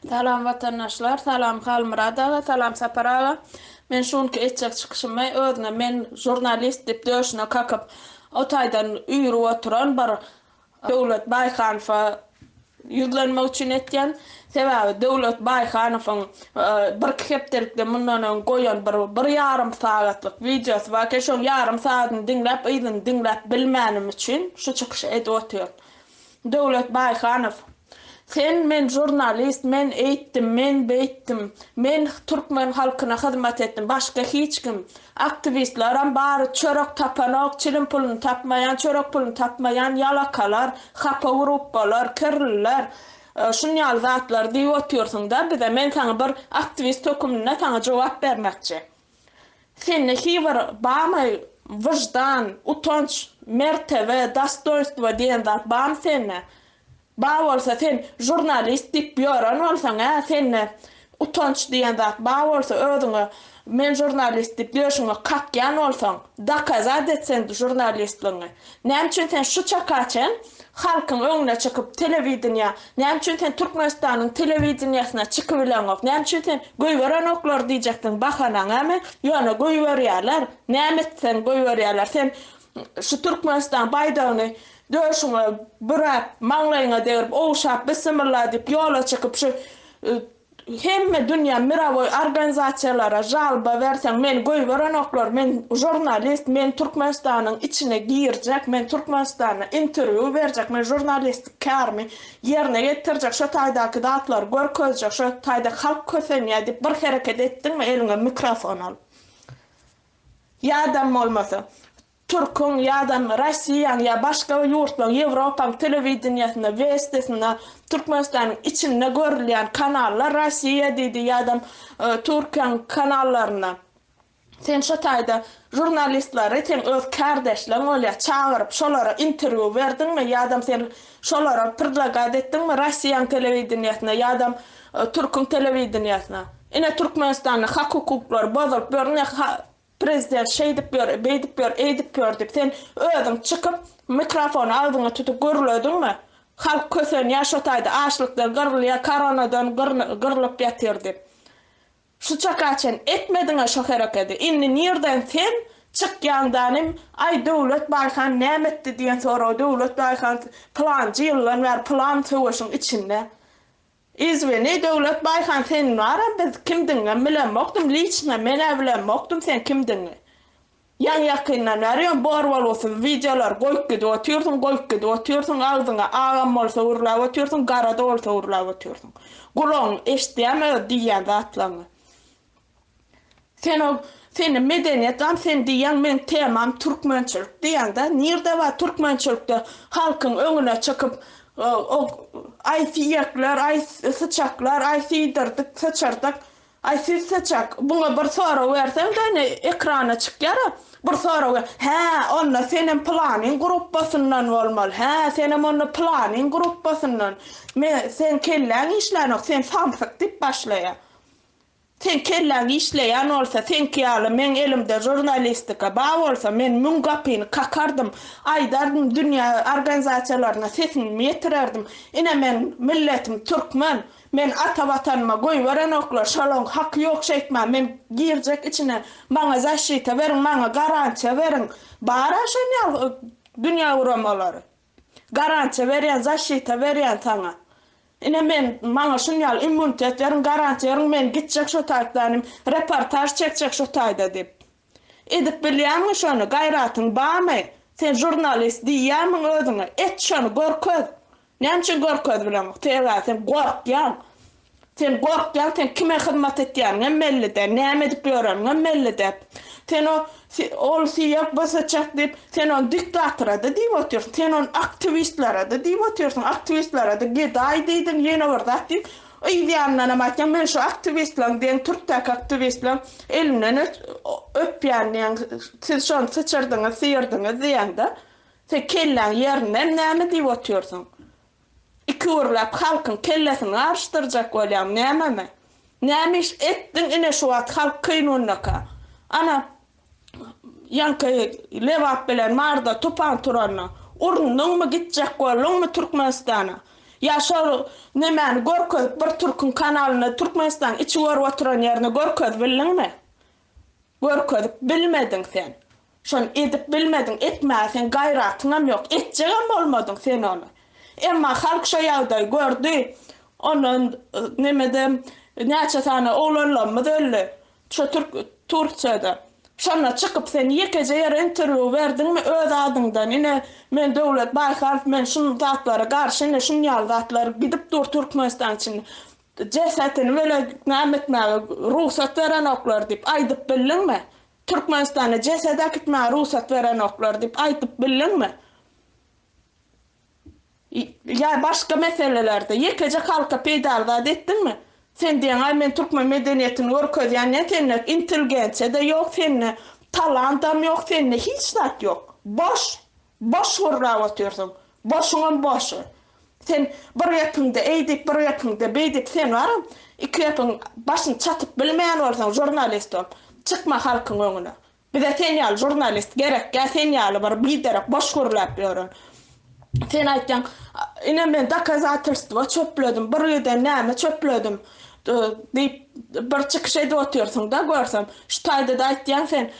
Salam watandaşlar salam Halmyrat aga salam Sapar aga men şu günki etjek çykyşymy özüne men jurnalist dip döşüne kakyp o taýdan üýrüp oturan bir Döwlet Baýhanowa ýüzlenmek üçin etýän sebäbi Döwlet Baýhanowyň birki hepdelikde mundan öň goýan bir bir ýarym sagatlyk wideosy bar eken şoň ýarym sagadyny diňläp yzyny diňläp bilmänim üçin şu çykyşy edip otyryn Döwlet Baýhanow, Sen men žurnalist, men eýtdim, men beýtdim, men türkmen halkyna hyzmat etdim, başga hiç kim, aktiwistlaram bary çörek tapanok, çilim puluny tapmaýan, çörek puluny tapmaýan ýalakalar, hapa gruppalar, kirliler, şun ýaly zatlar diýip otyrsyň-da bize, men saňa bir aktiwist höküminde saňa jogap bermekçi. Sende hibir barmy wyždan, utanç, mertebe, dostoýnstwo diýen zat barmy sende? Bar bolsa sen žurnalist diýip ýören bolsaň-a, sende utanç diýen zat bar bolsa, özüňe men žurnalist diýip ýörşüňe kakýan bolsaň, dokazat et sen žurnalistligiňi. Näme üçin sen şu çaka çen halkyň öňüne çykyp telewideniýa, näme üçin sen Türkmenistanyň telewideniýasyna çykybileňok, näme üçin sen goýberenoklar diýjekdiň bahanaňamy, ýöne goýberýärler, näme etseň goýberýärler, sen şu Türkmenistan baýdagyny döşüňe büräp, maňlaýyňa degrip, ogşap, Bissimilla diýip ýola çykyp şu Hemme dünýä mirawoý organizasiýalara žalba berseň meni goýberenoklar men žurnalist men Türkmenistanyň içine girjek men Türkmenistanda interwýu berjek men žurnalistik kärimi ýerine ýetirjek şo taýdaky zatlary görkezjek şo taýda halk kösenýä diýip bir hereket etdiňmi eliňe mikrofon alyp ýa-da bolmasa Türküň ýa-da Rossiýaň ýa başga bir ýurtlaryň, Ýewropaň telewideniýesinde, Westisinde, Türkmenistanyň içinde görülýän kanallar Rossiýa diýdi ýa-da Türkiýäň kanallarynda. Sen şo taýda žurnalistleri, seň öz kärdeşleriň bolýar, çagyryp, şolara interwýu berdiňmi ýa-da sen şolara prdlagat etdiňmi Rossiýaň telewideniýesine ýa-da Türküň telewideniýesine? Ine Türkmenistanda hak-hukuklary bozulyp ýörün, ine Prezident şeýdip ýör, beýdip ýör, eýdip ýör diýip, sen özüň çykyp, mikrofony agzyňa tutup gürlediňmi? Halk kösenýär şo taýda, açlykdan gyrylýar, koronadan gyrlyp ýatyr diýip. Şu çaka çen etmediň-ä şo herekedi. Indi nirden sen çykýaň danym, aý Döwlet Baýhan näme etdi diýen soraga Döwlet Baýhan pylanjy ýyldan bäri pylan söweşiň içinde. Izwini Döwlet Baýhan seniň wara biz kimdigiňem bilemokdym liçno menä bilemokdym sen kimdigiňi. Ýaňy ýakyndan bäri ýöne bor bolgusyz wideolary goýup gidip otyrsyň goýup gidip otyrsyň agzyňa agam bolsa urlap otyrsyň garada bolsa urlap otyrsyň. Gulagyň eşidýämi öz diýýän zatlaryňy. Sen o seni medeniýet gam sen diýýäň meň temam türkmençilik diýýäňdä nirde bar türkmençilikde halkyň öňüne çykyp o aý siýekler aý syçaklar aý siýdirdik syçyrdyk aý siz syçak buňa bir sorag berseňde ine ekrana çykýara bir sorag hä onda senem pylanyň gruppasyndan bolmaly hä senem onda pylanyň gruppasyndan me sen kelläň işlänok sen samsyk diýip başlaýar Seň kelläň işleýän bolsa, seňki ýaly meň elimde žurnalistika bar bolsa, men müň gapyny kakardym, aýdardym, dünýä organizasiýalaryna sesimi ýetirerdim. Ine, meň milletim türkmen. Meni ata Watanyma goýberenoklar, şalaň haky ýok şeýtmän, men girjek içine, maňa zaşita beriň, maňa garantiýa beriň. Bar-a şonýaly dünýä guramalary. Garantiýa berýän, zaşita berýän saňa. Ine men, maňa şun ýaly immunitet beriň, garantiýa beriň, men gitjek şo taýplanym, reportaž çekjek şo taýda diýip. Edip bilýämiň şony, gaýratyň barmy? Sen žurnalist diýýämiň özüňe? Et şony, görkez! Näme üçin görkezip bileňok? Sebäbi sen gorkýaň. Sen gorkýaň, sen kime hyzmat etýäniňem belli-dä, näme edip ýöreniňem belli-dä. Sen o ol syýag basaçak diýip, sen ony diktatora-da diýip otyrsyň, sen ony aktiwistlere-de diýip otyrsyň, aktiwistlere-de gedaý diýdiň, ýene bir zat diýip, yz ýanyndanam aýtýaň, men şu aktiwistleriň diýen türkdäki aktiwistleriň elinden öpýän diýýäň, siz şony syçyrdyňyz, syýyrdyňyz diýýäň-de. Sen kelläň ýerindeem näme diýip otyrsyň? Iki gürläp halkyň kellesini garyşdyrjak bolýaň nämeme? Näme iş etdiň ine şu wagt halk kynundaka? Ana ýaňky Lebap bilen Maryda tupan turanda urundyňmy gitjek bolduňmy Türkmenistana? Ýa şol nemäni görkezip bir türküň kanalynda Türkmenistanyň içi görüp oturan ýerini görkezip bildiňmi? Görkezip bilmediň sen. Şony edip bilmediň, etmäge seň gaýratyňam ýok, etjegem bolmadyň sen ony. Emma halk şo ýagdaýy gördi, ondan nemede näçe sany oglanlarymyz öldi, şo türk Tursiýada. Şonda çykyp sen ýekeje ýere interwýu berdiňmi öz adyňdan, ine, men Döwlet Baýhanow, men şu zatlara garşy, ine, şunýaly zatlar gidip dur Türkmenistanyň içinde. Jesetini welä näme etmäge rugsat berenoklar diýip aýdyp bildiňmi? Türkmenistana jeset äkitmäge rugsat berenoklar diýip aýdyp bildiňmi? Ýa başga meselelerde ýekeje halka peýdaly zat etdiňmi? Sen diýeňaý men türkmen medeniýetini görkezýän diýen sende intelgensiýa-da ýok, sende talantam ýok, sende hiç zat ýok. Boş! Boş gürläp otyrsyň. Boşuňam boş. Sen bir gepiňde eý diýip, bir gepiňde beý diýip, sen baram, iki gepiň başyny çatyp bilmeýän bolsaň, žurnalist bolup, çykma halkyň öňüne. Bize sen ýaly žurnalist gerekkä, sen ýaly bir biderek boş gürläp ýören. Sen aýtýaň, Ine, men dokazatelstwo çöpledim, bir giden näme çöpledim diýip, bir çykyş edip otyrsyň-da, görsem. Şu taýda-da aýtýaň sen.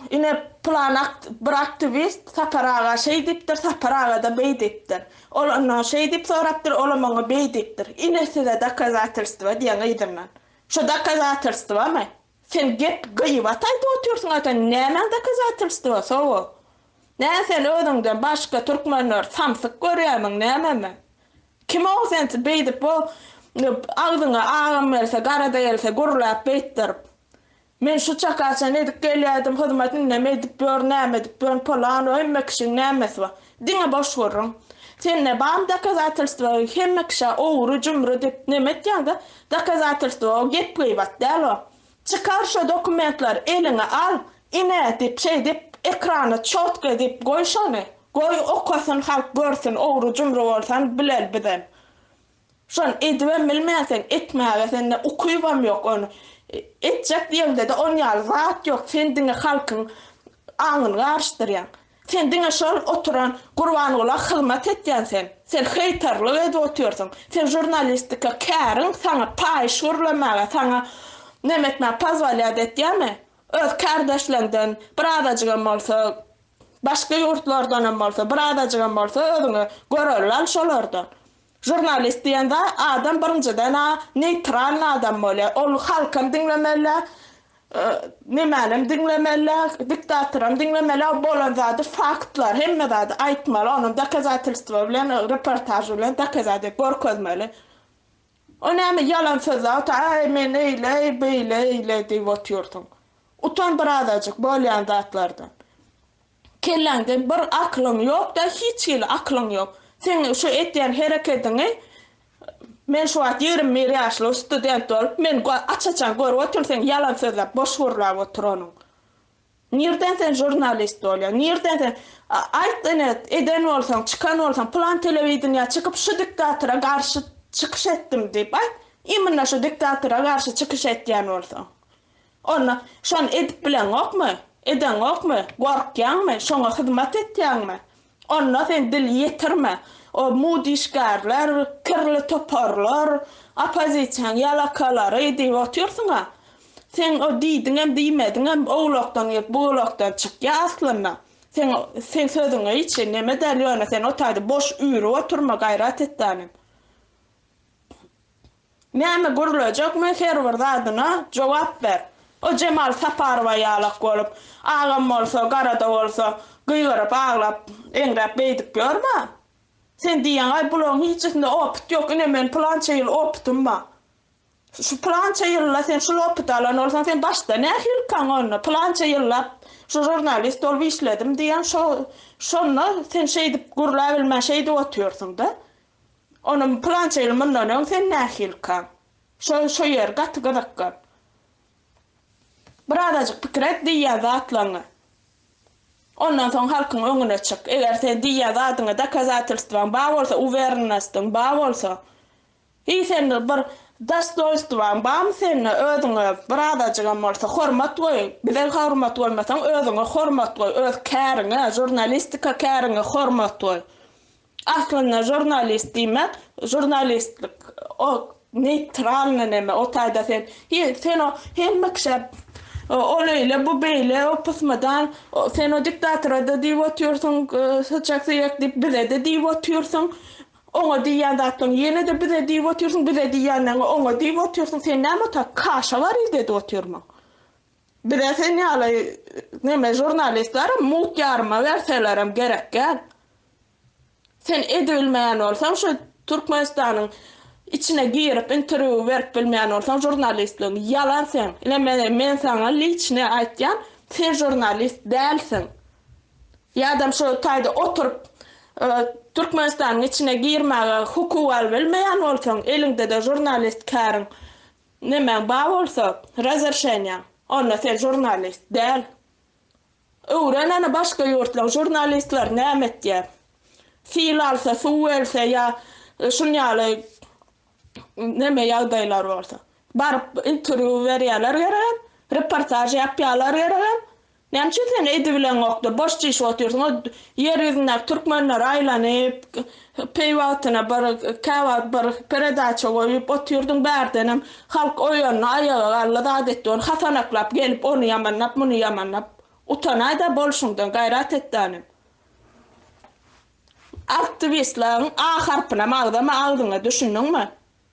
Ine, pylan bir aktiwist Sapar aga şeý diýipdir, Sapar aga-da beý diýipdir. Ol ondan şeý diýip sorapdyr, olam oňa beý diýipdir. Ine, size dokazatelstwo diýen yzyndan. Şu dokazatelstwamy? Sen gep, gyýbat aýdyp otyrsyň-a sen, nämäň dokazatelstwosy bu? Nä sen özüňden başga türkmenleri samsyk görýärmiň nämemi? Kim-ow sen beýdip o agzyňa agam gelse, garada gelse gürläp beýtdirip? Men şu çaka çen edip gelýädim hyzmat indem edip ýör näme edip ýörün polan o hemme kişiň nämesi bar diňe boş gürrüň sende barmy dokazatelstwa hemme kişä ogry jumry dip neme etýäňda dokazatelstwa o gep gybat däl o çykar şo dokumentlary eliňe al ine dip şeýdip ekrana çotk edip goý şony goý okasyn halk görsün ogry jumry bolsan bileli bizem Şony edibem bilmen sen, etmäge sende ukybam ýok ony. Etjek ýeňde-de on ýaly zat ýok, sen diňe halkyň aňyny garyşdyrýaň. Sen diňe şol oturan Gurbangula hyzmat etýän sen. Sen heýterlik edip otyrsyň. Sen žurnalistika käriň saňa paýyş gürlemäge, saňa neme etmäge pozwolýat etýärmi? Öz kärdeşleriňden birazajygam bolsa, başga ýurtlardanam bolsa, birazajygam bolsa özüňe görelde al şolardan. Žurnalist diýen zat adam birinjiden-ä neýtralny adam bolýar. Ol halkam diňlemeli-dä, nämälem diňlemeli-dä, diktatoram diňlemeli-dä, ol bolan zady faktlar, hemme zady aýtmaly, ony dokazatelstwo bilen, reportaž bilen dokazat edip görkezmeli. O näme ýalan söz zat, aý men eýle, beýle, eýle diýip otyrsyň. Utan birazajyk bolýan zatlardan. Kelläňde bir aklyň ýokda hiç hili aklyň ýok. Seň şu etýän herekediňi Men şu wagt ýigrimi bir ýaşly student bolup men aç-açan görüp otyryn seň ýalan sözläp boş gürläp oturanyň. Nirden sen žurnalist bolýaň nirden sen aýt ine eden bolsaň çykan bolsaň pylan telewideniýa çykyp şu diktatora garşy çykyş etdim diýip aýt imina şu diktatora garşy çykyş etýän bolsaň. Onda, şony edip bileňokmy? Edeňokmy? Gorkýaňmy? Şoňa hyzmat etýäňmi? Onda sen dil ýetirme. O mudişgärler, kirli toparlar, oppozisiýaň ýalakalary diýip otyrsyň-a. Sen o diýdiňem, diýmediňem owlakdan girip, buglakdan çykýa aslynda. Sen, sen sözüňi hiç neme däl, ýöne sen o taýda boş üýrüp oturma gaýrat etdänem. Näme gürlejekmi her bir zadyna jogap ber. O Jemal Saparowa ýalak bolup, agam bolsa, garada bolsa, gygyryp, aglap, eňräp beýdip ýörme. Sen diýýäňaý bularyň hiçisinde opyt ýok, ine men pylança ýyl opytym bar. Şu pylança ýylda sen şul opyty alan bolsaň sen başda nähilikaň onda pylança ýyllap şu žurnalist bolup işledim diýýäň şo şonda sen şeýdip gürläbilmän şeýdip otyrsyňda. Onam pylança ýyl mundan öň sen nähilika? Şo şo ýer gaty gyzykgy. Bir azajyk pikir et diýýän zatlaňňy. Ondan soň halkyň öňüne çyk. Eger sen diýýän zadyňa dokazatelstwaň bar bolsa, uwerennostyň bar bolsa, i sende bir dostoýnstwaň barmy sende özüňe bir azajygam bolsa hormat goý. Bize hormat goýmasaň özüňe hormat goý, öz käriňe, žurnalistika käriňe hormat goý. Aslynda žurnalist diýmek žurnalistlik o neýtralny neme o taýda sen sen o hemme kişä ol eýle bu beýle o pysmydan sen o diktatorada diýip otyrsyň syçak syýak diýip bizede diýip otyrsyň oňa diýýän zatlaň ýenede bize diýip otyrsyň bize diýýänleň oňa diýip otyrsyň sen näme ota kaşa wariz edip otyrmyň Bize sen ýaly neme žurnalistleri mugt ýaryma berselerem gerek däl. Sen edibilmeýän bolsaň şu Türkmenistanyň içine girip interwýu berip bilmeýän bolsaň žurnalistligiň ýalan seň. Ine mene men saňa liçnyý aýtýan sen žurnalist dälsiň. Ýadam şu taýda oturyp Türkmenistanyň içine girmäge hukuk alybilmeýän bolsaň eliňdede žurnalist käriň Nemäň bar bolsa, razerşeniýaň. Onda sen žurnalist däl. Öwren ony başga ýurtlaň žurnalistleri näme etýär. Sil alsa, suw welse ýa şun ýaly neme ýagdaýlar bolsa. Baryp interwýu berýärler geregem, reportaž ýapýarlar geregem. Nämçe sen edibileňokdy, boş çişip otyrsyň, o ýer ýüzündäki türkmenleri aýlanyp, peý wagtyna bir, käwagt bir peredaça goýup otyrdyň, bärdenem halk oýandy, aýaga galdy, zat etdi, ony hasanaklap gelip, ony ýamanlap, muny ýamanlap, utanaý-da bolşuňdan, gaýrat et-de hanym. Aktiwistlaň A harpynam agzama agzyňa, düşündiňmi?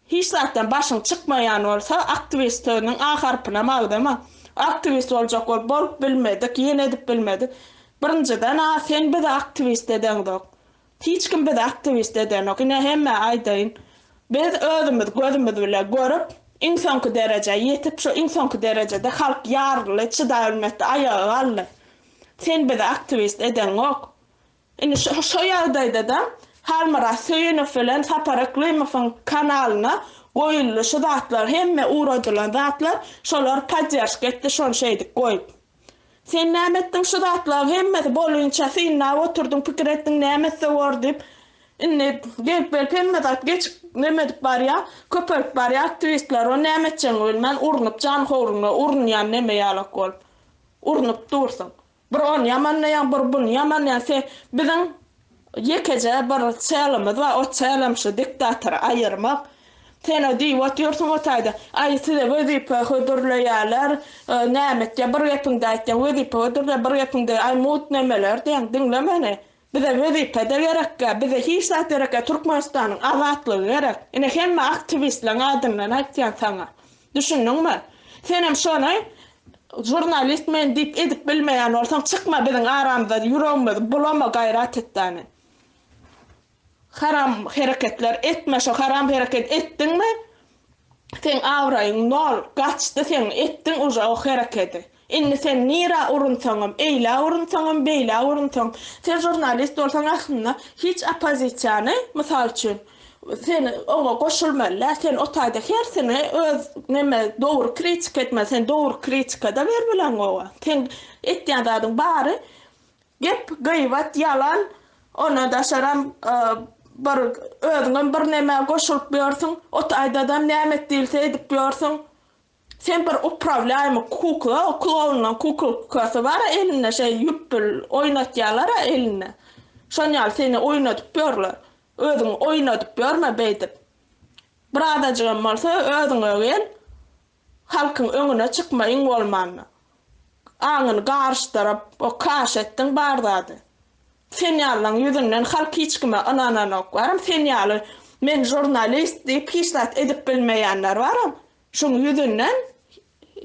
Hiç zatdan başyň çykmaýan bolsa aktiwist sözüniň a harpynam agzama. Aktiwist boljak bolup bolup bilmedik, ýene edip bilmedik. Birinjiden a sen bizi aktiwist edeňzok. Hiç kim bizi aktiwist edenok. Ine hemmä aýdaýyn. Biz özümiz gözümiz bile görüp iň soňky derejä ýetip şu iň soňky derejede halk ýaryldy, çydabilmedi, aýaga galdy. Sen bizi aktiwist edeňok. Indi şo ýagdaýda-da Halmyrat Söýünow bilen Sapar Yklymowyň kanalyna goýuldy şu zatlar hemme uradylan zatlar şolar podderşka etdi şony şeýdip goýup. Sen näme etdiň şu zatlaň hemmesi bolynça synlap oturdyň pikir etdiň näme etse bor diýip indi gelip gelip hemme zat geçip neme edip barýa köpelip barýa aktiwistler ony näme etjegini bilmän urnup janhowryňa urunýan neme ýalak bolup urnup dursuň. Bir ony ýamanlaýan bir buny ýamanlaýan se biziň ýekeje bir çälimiz bar o çälem şu diktatory aýyrmak sena diýip otyrsyň o taýda aý size wezipe hödürleýäler näme etýä bir gepiňde aýtýaň wezipe hödürleýä bir gepiňde aý mut nemeler diýäň diňle meni Bize wezipede gerekge bize hiç zat gerekge Türkmenistanyň azatlygy gerek ine hemme aktiwistleň adyndan aýtýan saňa düşündiňmi senem şony jurnalist men diýip edip bilmeýän bolsaň çykma biziň aramyza ýüregimizi bulama gaýrat et dany haram hereketler etme şo haram hereket etdiňmi Seň abraýyň nol, gaçdy seň, etdiň uje o herekedi. Indi sen nirä urunsaňam, eýlä urunsaňam, beýlä urunsaň, sen žurnalist bolsaň aslynda hiç oppozisiýany, mysal üçin, sen oňa goşulmaly däl, sen o taýda hersini öz neme dogry kritika etmeli, sen dogry kritika-da bermeleň oňa. Seň etýän zadyň bary Gep gyýbat ýalan ona daşaram bir özüňem bir nämä goşulyp ýörsüň ot aýdadam näme et diýilse edip ýörsüň sen bir uprawlýaýmy kukla klownuň kuklkasy bara elinde şeý ýüp pül oýnatýalara elinde şon ýaly seni oýnadyp ýörler özüňi oýnadyp ýörme beýdip birazajygam bolsa özüňe gel Halkyň öňüne çykmaýyň bolmanda. Aňyny garyşdyryp, o kaş etdiň bar zady. Sen ýalylaň ýüzünden halk hiç kime ynananok. Baram sen ýaly men žurnalist diýip hiç zat edip bilmeýänler baram. Şuň ýüzünden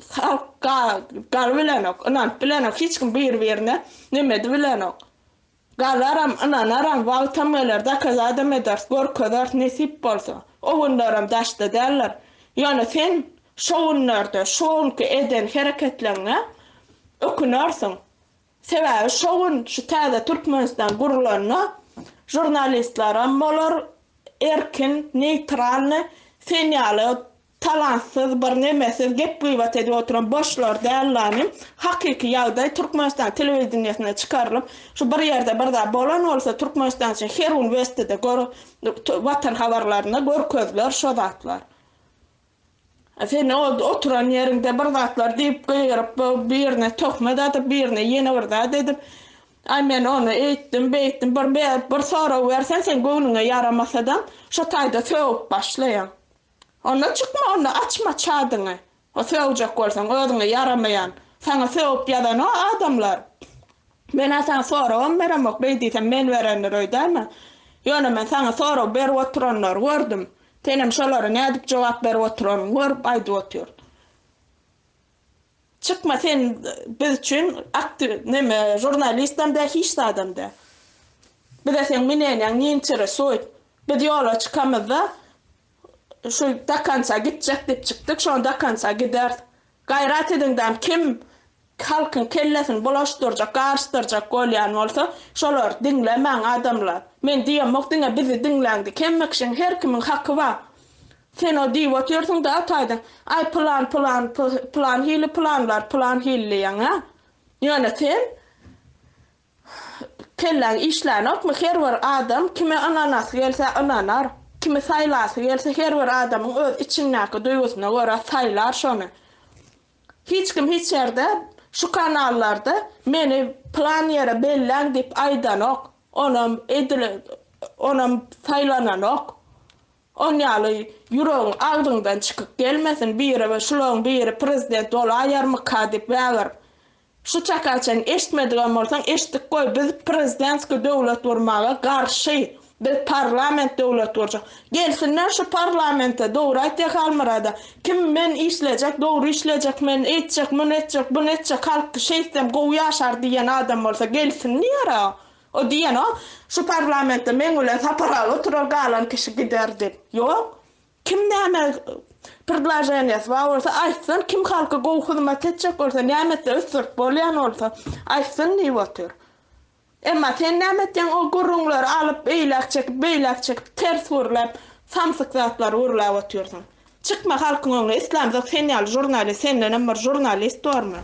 halk galyp bilenok, ynanyp bilenok hiç kim bir birine nemedi bilenok. Galaram, ynanaram, wagtam geler, dokazadam ederis, görkezeris, nesip bolsa. O günleram daşda däldir. Ýöne sen şo günlerde, şo günki eden hereketleňňe ökünersiň. Sebäbi şo gün şu täze Türkmenistan gurlanda žurnalistlaram bolar, erkin, neýtralny, sen ýaly Talantsyz, birnemesiz gep-gybat edip oturan boşlar däl lamy. Hakyky ýagdaý Türkmenistan telewideniýesinde çykarylyp, şu bir ýerde bir zat bolan bolsa, Türkmenistan üçin her gün Westide, Watan habarlarynda görkeziler şo zatlar. A sen oturan ýeriňde bir zatlar diýip gygyryp, birine töhmet atyp, birine ýene bir zat edip, Aý men ony eýtdim, beýtdim, bir sorag berseň sen göwnüňe ýaramasadam, şo taýda sögüp başlaýaň. Onda çykma, onda açma çadyňy. Sögjek bolsaň, özüňe ýaramaýan, saňa sögüp ýazan o adamlar. Men-ä saňa soragam beremok, beý diýsem, men berendir öýdäýme. Ýöne men saňa sorag berip oturanlary gördüm. Senem şolara nädip jogap berip oturanyňy görüp aýdyp otyryn. Çykma sen biz üçin aktiw neme žurnalistam däl hiç zadam däl. Bize seň minenýäň ne interesuýt. Biz ýola çykamyzda şu do konca gitjek diýip çykdyk şony do konca gideris. Gaýrat ediň dam kim halkyň kellesini bulaşdyrjak garyşdyrjak bolýan bolsa şolary diňlemäň adamlar. Men diýemok diňe bizi diňläň diýip hemme kişiň her kimiň haky bar. Sen o diýip otyrsyň-da ataýdan, Aý, pylan, pylan, pylan hili pylanlar, pylan hili diýýäň-ä. Ýöne sen kelläň işlänokmy, her bir adam kime ynanasy gelse ynanar, kimi saýlasy gelse her bir adamyň öz içindäki duýgusyna görä saýlar şony. Hiç kim hiç ýerde şu kanallarda meni pylan ýere belläň diýip aýdanok, onam edil onam saýlananok. On ýaly ýüregiň agzyňdan çykyp gelmesin biri we şulaň biri prezident bolaýarmyka dip wägir. Şu çaka çen eşitmedigen bolsaň eşitdik goý biz prezidentski döwlet gurmaga garşy biz parlament döwlet gurjak. Gelsinler şu parlamente dogry aýtýa Halmyrada kim men işlejek dogry işlejek men eýtjek muny etjek buny etjek halk şeýtsem gowy ýaşar diýen adam bolsa gelsin diýer a. O diýeno, şu parlamentde meň bilen Sapar aga oturar, galan kişi gider diýip. Ýok. Kim näme prdlaženiýasy bar bolsa, aýtsyn, kim halka gowy hyzmat etjek bolsa, näme etse ösdürip bolýan bolsa, aýtsyn diýip otyr. Emma sen näme etýäň, o gürrüňleri alyp, eýläk çekip, beýläk çekip, ters gürläp, samsyk zatlary gürläp otyrsyň. Çykma halkyň öňüne, islamzok sen ýaly žurnalist, sendenem bir žurnalist bormy?